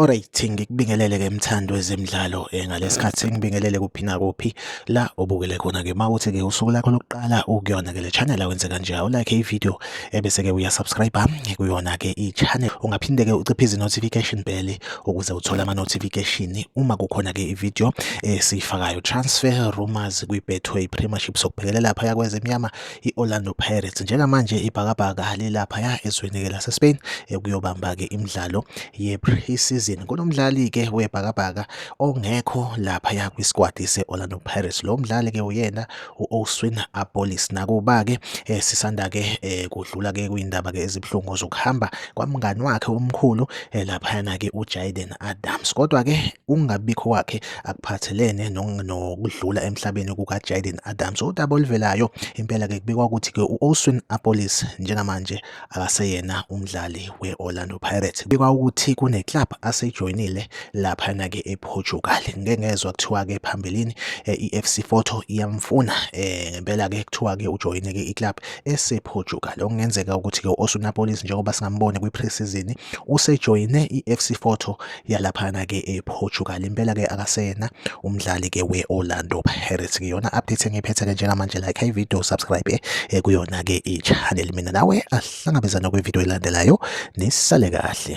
Alright ngikubingelele ke mthandi wezemidlalo eh, ngalesikhathi ngibingelele kuphi na kuphi la obukele khona ke mawuthi ke usuku lakho lokuqala ukuyona ke le channel awenze kanje awulike i video ebese ke uya subscribe kuyona ke i channel ungaphinde ke uciphe izi notification bell ukuze uthole ama notification uma kukhona ke i video esiyifakayo transfer rumors kwi Betway Premiership sokubhekele lapha yakweze emnyama i Orlando Pirates njengamanje ibhakabhaka lelapha ya ezweni ke lase Spain ekuyobamba ke imidlalo ye pre-season kunomdlali ke webhakabhaka ongekho lapha ya kwi squad se Orlando Pirates lo mdlali ke uyena u-Oswin Abolis. Nakuba-ke eh, sisanda-ke eh, kudlula-ke kwiy'ndaba-ke ezibuhlungu zokuhamba kwamngani wakhe omkhulu eh, laphayana-ke uJaden Adams. Kodwa-ke ukungabikho kwakhe akuphathelene nokudlula emhlabeni kukaJaden Adams. Udaba oluvelayo impela-ke kubikwa ukuthi-ke u-Oswin Abolis njengamanje akaseyena umdlali we-Orlando Pirates. Kubikwa ukuthi kune-club aseyijoyinile laphana-ke e-Portugal. Ngike ngezwa kuthiwa-ke phambilini eh, i-FC Porto iyamfuna eh, ngempela-ke kuthiwa-ke ujoyine-ke i-club ese-Portugal. Okungenzeka ukuthi-ke u-Osunapolis njengoba singambone kwi-pre-season usejoyine i-FC Porto yalaphana ke ePortugal impela ke akasena umdlali ke weOrlando Pirates ke yona update engiphethe ke njengamanje like i video subscribe eh, eh, kuyona ke ichannel mina nawe ahlangabezana kwivideo elandelayo nisale kahle